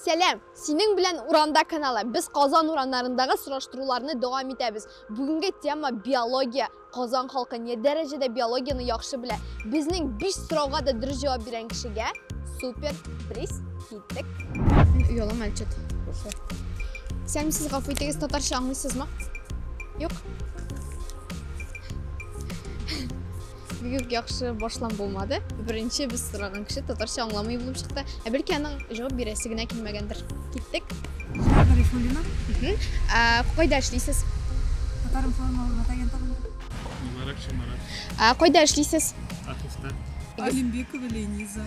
Сәләм! Синең белән урамда каналы. Без Казан урамнарындагы сораштыруларны дәвам итәбез. Бүгенге тема биология. Казан халкы не дәрәҗәдә биологияны яхшы белә? Безнең 5 сорауга да дөрес җавап биргән кешегә супер приз Тек. Оялам әлчет. Сәм сез гафу итегез, татарча аңлыйсызмы? Юк. Бигүк яхшы башлам булмады. Беренче без сораган кеше татарча аңламый булып чыкты. Ә бәлки аның җавап бирәсе генә килмәгәндер. Киттек. Гарифуллина. Ә, Кайда эшлисез? Татарым формалы мата агентлыгында. Марат Шамарат. Ә, Кайда эшлисез? Атыста. Алимбекова Лениза.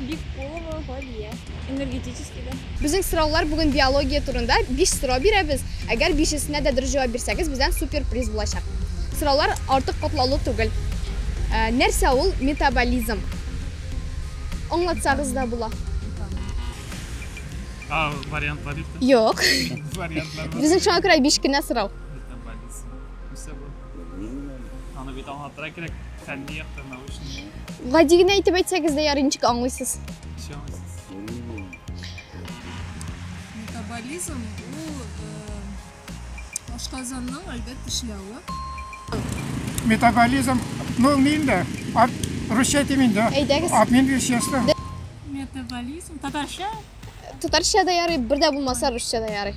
Биккулова Галия. Энергетический да. Безнең сораулар бүген биология турында. Биш сорау бирәбез. Әгәр бишесенә дә дөрес җавап бирсәгез, бездән супер приз булачак. Сораулар артык катлаулы түгел. Ә, нәрсә ул метаболизм? Аңлатсагыз да була. А, вариантлар юк. Юк. Вариантлар. Безнең шуңа күрә биш кенә сорау. Аны бит аңлатырга кирәк, фәнни яктан научный. Гади генә әйтеп әйтсәгез дә ярый, ничек аңлыйсыз? Ничек аңлыйсыз? Метаболизм ул ашказанның әлбәт эшләве. Метаболизм, ну, мин дә, русча әйтим инде. Әйдәгез. Обмен вещества. Метаболизм, татарча? Татарча да ярый, бер дә булмаса русча да ярый.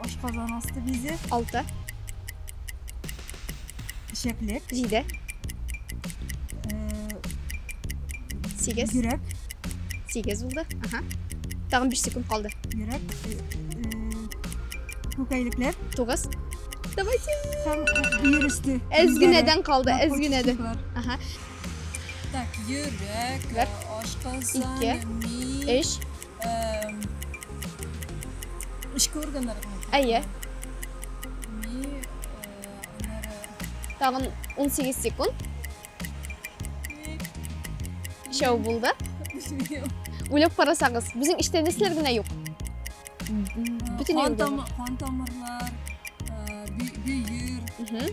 Ашказан асты бизе. Алты. Чәклек. Җиде. Сигез. Йөрәк. Сигез булды. Ага. Тагын биш секунд калды. Йөрәк. Күкәйлекләр. Тугыз. Давайте. Һәм бер өсте. Әзгенәдән калды, әзгенәдән. Ага. Так, йөрәк, ашказан, ми. Өч. Эшке органнар. Әйе. Тагын 18 секунд. Шау булды. Уйлап карасагыз, безнең эштә нәрсәләр генә юк? Бүтән юк. Кан тамырлар, бөер,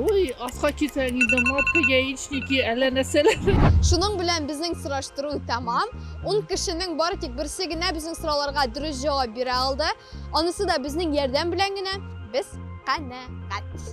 Ой, аска килсәң инде матка яичники, әллә нәрсәләр. Шуның белән безнең сораштыру тәмам. Ун кешенең бары тик берсе генә безнең сорауларга дөрес җавап бирә алды. Анысы да безнең ярдәм белән генә. Без канәгать.